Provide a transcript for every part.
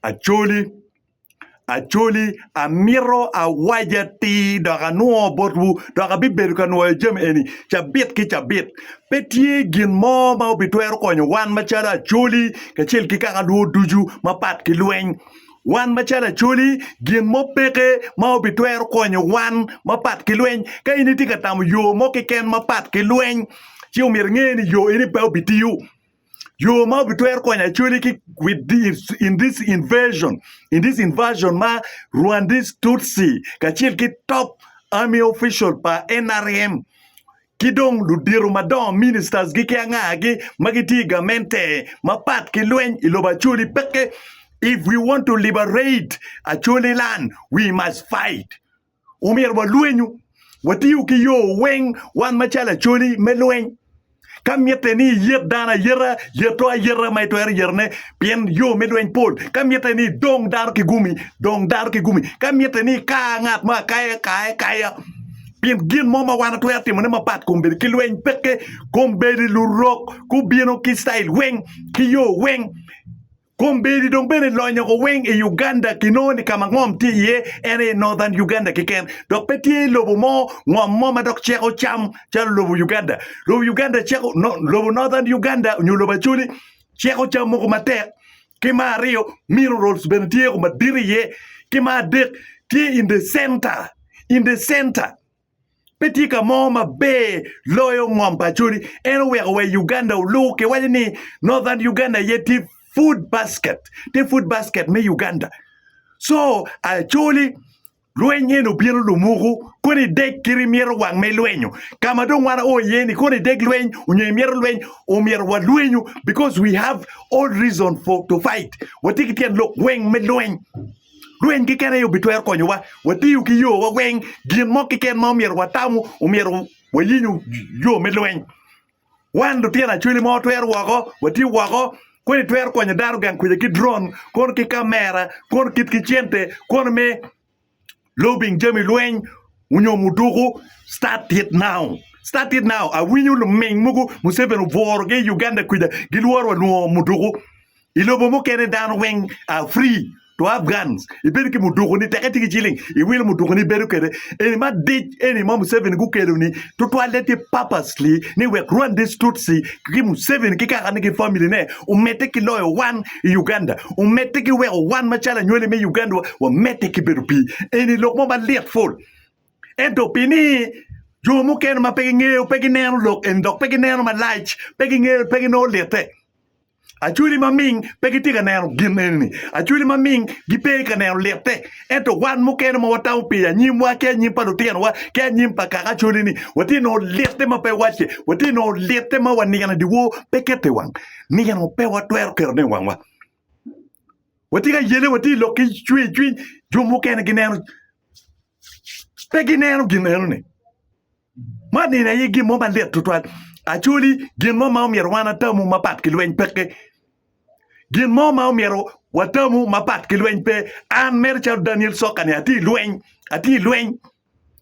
Acholi, Acholi, amito awac atir dok anwo botwu, dok abibedo ka nwoyo jami eni cabit ki cabit. Pe tye gin mo ma obitwero konyo wan macalo Acholi kacel ki kaka lwo ducu mapat ki lweny. Wan macalo Acholi, gin mo peke ma obitwero konyo wan mapat ki lweny. Ka in itye ka tamo yo mo keken mapat ki lweny, ci omyero inge ni yo eni pe obitiyo. Yo ma obitwero konyo Acholi ki with this, in this invasion, in this invasion ma Rwandese Tutsi kacel ki top army official pa NRM ki dong ludito madongo ministers gi ki angagi ma gitye i gamente mapat ki lweny i lobo Acholi peke. If we want to liberate Acholi land, we must fight. omyero walwenyu, watiyu ki yo weng wan macalo Acholi me lweny. Ka mitte ni iyet dano ayeta, yeto ayeta ma itwero yetone, pien yo me lweny pol. Ka mitte ni idong dano ki gumi, dong dano ki gumi. Ka mitte ni ika ngat mo akaya, kaye kaya. Pien gin mo ma wan watwero timone mapat kombeddi ki lweny peke, kombeddi lurok gubino ki ctail weng, ki yo weng. Kombeddi dong bene lonyo ko weng i Uganda kinongo ni kama ngom tye iye en aye Northern Uganda keken dok pe tye lobo mo ngom mo ma dok ceko cam calo lobo Uganda. Lobo Uganda ceko lobo Northern Uganda nyo lobo Acholi ceko cam mogo matek ki ma aryo minerals bene tye ko madit iye ki ma adek tye in the center in the center Pe tye ka mo maber loyo ngom pa Acholi. En oweko wa i Uganda oluu kiwaco ni Northern Uganda aye tye food basket, tye food basket me Uganda. Co Acholi lweny eni obino lumuku kono ideg kit imyero wang ma ilwenyo. Ka ma dong wan oo iye ni kono ideg lweny onyo imyero lweny omyero walwenyu because we have all reason for to fight. Watye ki tyen lok weng me lweny. Lweny keken aye obitwero konyowa. Watiyo ki yowa weng, gin mo keken ma omyero watamo omyero wayenyo yo me lweny. Wan lutino acwali ma watwero woko, watye woko, koni twero konyo dano gang kwija ki drone, kono ki kamera, kono kit ki cente, kono me lobbying jami lweny onyo muduku. Start it now, start it now. Awinyo luming mogo Museveni obworo gi i Uganda kwija gilworo wa lwongo muduku. I lobo mukene dano weng are free to have guns. Ibedo ki muduku ni teke tye ki ciling iwilo muduku ni ibedo kwede. Eni madic eni ma Museveni gukelo ni tutwalle tye purposely ni wek Rwandese Tutsi ki Museveni ki kakane ki family ne omedde ki loyo wan i Uganda. Omedde ki weko wan macalo anywali me Uganda wa wamedde ki bedo pi eni lok mo malit ful. Ento pi ni jo mukene ma pe gingeyo pe gineno lok eni dok pe gineno malac pe gingeyo pe ginongo lite. Acholi maming pe gitye ka neno gin eni-ni. Acholi maming gipe ka neno litte. Ento wan mukene ma watamo pi anyimwa ki anyim pa lutinowa ki anyim pa kaka acholi-ni, watye ka nongo litte ma pe wacce. Watye ka nongo litte ma wa nino i dyewor pe keto i wang. Nino pe watwero ketone i wangwa. Watye ka yele, watye i lok ki cwercwiny. Jo mukene gineno, pe gineno gin eno-ni. Man nino aye gin mo malit tutwal. Actually, gin mo ma omyero wan atamu mapat ki lweny peke. Gin mo ma omyero watamu mapat ki lweny pe. An mere calo Daniel Sokani atye i lweny, atye i lweny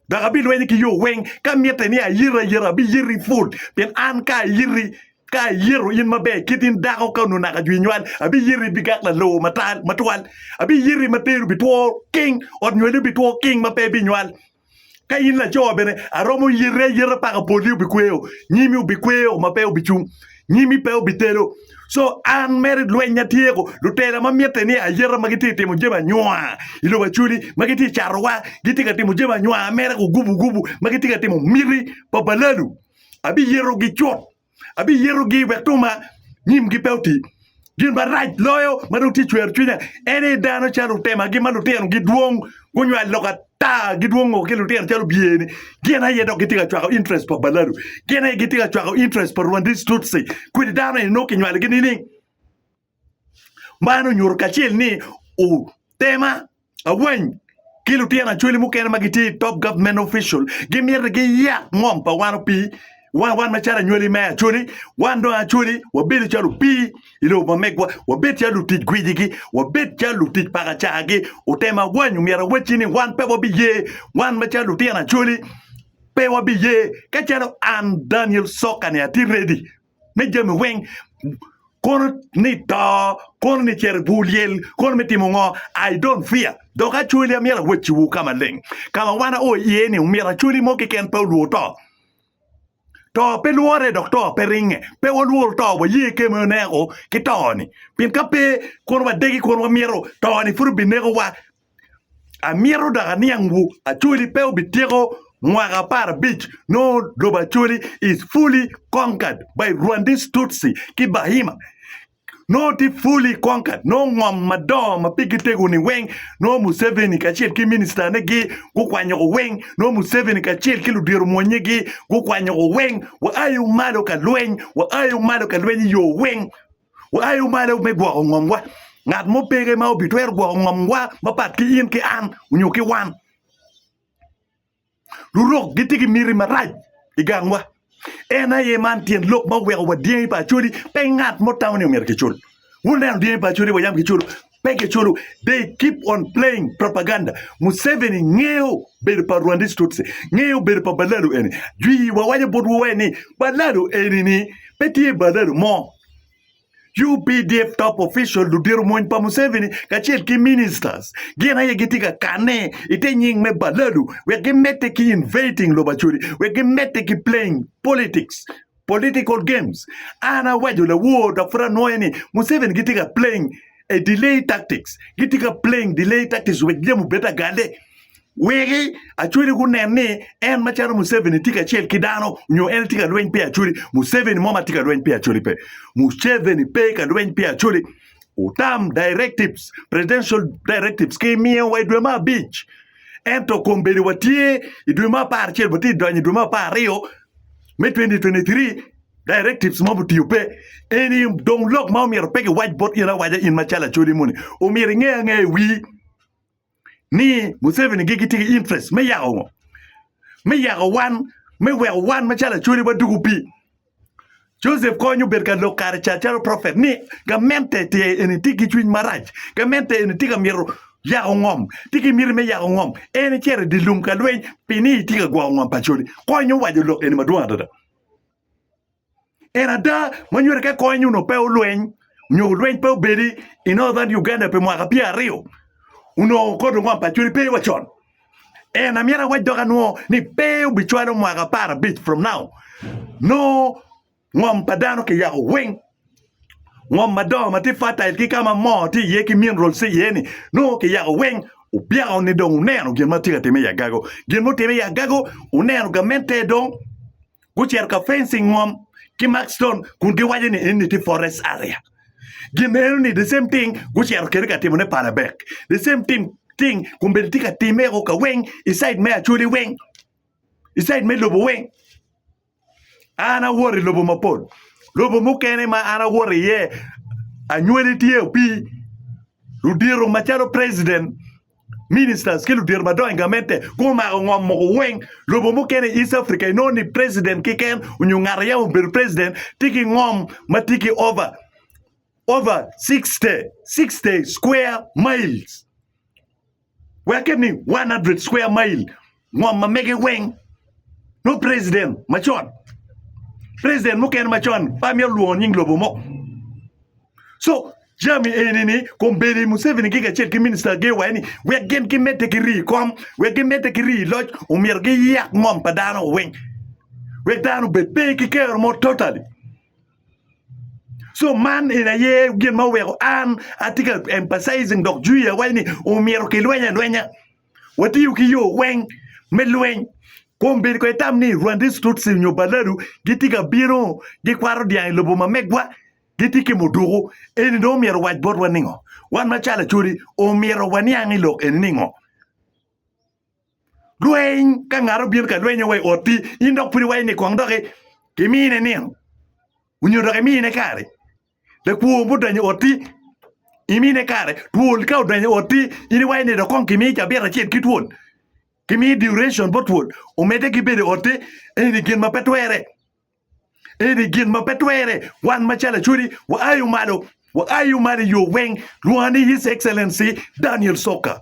dok abilwenyo ki yo weng. Ka mitte ni ayiti ayita abiyiti pud pien an ka ayiti ka ayito in maber kit in dako ka onongo naka jwi nywal abiyiti bigak lalowo matal matwal. Abiyiti ma teri obitwo king, ot nywali obitwo king ma pe binywal. Ka in laco bene, aromo yete ayeta paka poli obikweyo, nyimi obikweyo ma pe obicung, nyimi pe obitelo. Co an mere lweny atyeko, lutela ma mitte ni ayeta ma gitye ka timo jami anywa i lobo Acoli, ma gitye ka catowa, gitye ka timo jami anywa mere gugubugubu, ma gitye ka timo miti pa balalu, abiyetogi cut. abiyitogi wek tuma nyimgi pe oti. Gin marac loyo ma dong tye cwero cwinya en ni dano calo otemagi ma lutinogi dwong gunywal lok ata gidwong ngo ki lutino calo obyeni gin aye dok gitye ka cwako interest pa balalu gin aye gitye ka cwako interest pa rwandis tutsi kodi dano eni nongo kinywalogi nining? Man onyuto kacel ni tema awany ki lutino acholi mukene ma gitye i top government official gimiti giyak ngom pa wan opii wan wan macalo anywali me acholi wan dong acholi wabedo calo opii i lobo ma megwa wabed calo lutic gwicigi wabed calo lutic pakacagi otem awany omyero awacci ni wan pe wabiye wan macalo lutino acholi pe wabiye kacalo an Daniel Sokane atye ready. me jami weng, kono ni to, kono ni cito i bur lyel, kono me timo ngo, I don't fear. Dok actually amyero awacciwu ka maleng, ka ma wan ao iye ni omyero actually mo keken pe olwor to. To pe lwore dok to pe ringe. Pe walwor to, waye kema i oneko ki to-ni. Pien ka pe, kono wadegi kono wamyero to-ni pud obinekowa Amito dok aniangwu, Acholi pe obityeko mwaka apar abic nongo lobo Acholi is fully conquered by Rwandese Tutsi ki Bahima nongo tye fully conquered nongo ngom madongo ma pigi tego-ni weng nongo Museveni kacel ki Ministane-gi gukwanyo ko weng nongo Museveni kacel ki ludiro-mwonnyegi gukwanyo ko weng. Waayo malo ka lweny, waayo malo ka lweny i yo weng. Wuayo malo me gwoko ngomwa. Ngat mo peke ma obitwero gwoko ngomwa mapat ki in ki an onyo ki wan. Lurok gitye ki miti marac i gangwa. En aye man tyen lok ma oweko wa dyangi pa Acholi pe ngat mo tamo ni omyero kicul. Wuneno dyangi pa Acholi wa yam kiculu Pe kiculo, they keep on playing propaganda, Museveni ngeyo bedo pa Rwandese Tutsi, ngeyo bedo pa Balalu eni, jwii wawaco botwu wai ni Balalu eni ni pe tye Balalu mo, updf top official ludito mony pa Museveni kacel ki ministers gin aye gitye ka kanne ite nying me Balalu wek gimedde ki invating lobo Acholi wek gimedde ki playing politics. political games. An awaco lawor dok pud anwoye ni Museveni gitye ka playing a delay tactics. Gitye ka playing delay tactics wek jami obed agale. Weki Acholi gunen ni en macalo Museveni tye kacel ki dano nyo en tye ka lweny pi Acholi. Museveni mo ma tye ka lweny pi Acholi pe. Museveni pe ka lweny pi Acholi. Utam directives, presidential directives ki miyo wa i dwe me abic. Ento kombeddi watye i dwe me apar acel watye donyo i dwe me apar aryo me 2023 directives mob otiyo pe eni dong lok ma omyero pe giwac bot in awaca in macalo acholi moni omyero inge ange i wii ni Museveni gi gitye ki interest me yako ngo me yako wan me weko wan macalo acholi wadugu pi Joseph Kony obed ka lok kare ca calo prophet ni gamente tye eni tye ki cwiny marac gamente eni tye ka myero yako ngom, tye ki miti me yako ngom, en icito i dye lum ka lweny pi ni itye ka gwoko ngom pa codi. Kony owaco lok eni madwong adada. En ada ma nyuto ka kony onongo pe olweny nyo lweny pe obedi i Northern Uganda pi mwaka pyera aryo, onongo kodi ngom pa codi pe wa con. En amyero awac dok anwo ni pe obicwalo mwaka apar abic from now nongo Ngom pa dano kiyako weng. Ngom madongo ma tye fertile ki ka ma moo tye iye ki minerals tye iye ni nongo kiyako weng. Obyako ni dong oneno gin ma tye ka timme i agago. Gin mutimme i agago oneno gamente dong gucito ka fencing ngom ki Mark Stone kun giwaco ni enni tye forest area. Gin eno ni the same thing gucito kede ka timone Palabek. The same thing thing kombeddi tye ka timme o ka weng i side me Acholi weng. I side me lobo weng. an awoto i lobo mapol, lobo mukene ma an awoto iye anywali tye opii, ludito macalo president, ministers ki ludito madongo i gamente gumako ngom mogo weng, lobo mukene i East Africa inongo ni president keken nyo ngat ma yam obedo president tye ki ngom ma tye ki over over sixty sixty square miles. Weke ni 100 square mile ngom ma mege weng no president macon president mukene macon pa myero lwongo nying lobo mo so jami eni ni kombeni Museveni gi kacel ki minista gi wa ni wek gin ki mete ki rii kom wek gi mete ki rii loc omyero gi yak ngom pa dano weng wek dano bed pe ki kero mo totally So man eni aye gin ma oweko an atye ka emphasizing dok jwiya waci ni omyero kilweny alwenya, watiyo ki yo weng me lweny. Kong bed kong itam ni Rwandese Tutsi nyo Baladu gitye ka bino gikwato dyang i lobo ma megwa, gitye ki muduku, eni dong omyero owac botwa ningo? Wan macalo Acholi omyero waniang i lok eni ningo? Lweny, ka ngat obino ka lweny wa i otti, in dok pud iwaco ni kong dok imine nino onyo dok imine kare. Lakwo mudonyo i otti, imine kare. Twol ka odonyo i otti, in iwaco ni dok kong kimi cabit acel ki twol. Kimi duration bot twol, omedde ki bedo i otti. Eni gin ma pe twere. Eni gin ma pe twere. Wan macalo Acholi, waayo malo. Waayo malo i yo weng. Lwonga ni His Excellency Daniel Soka.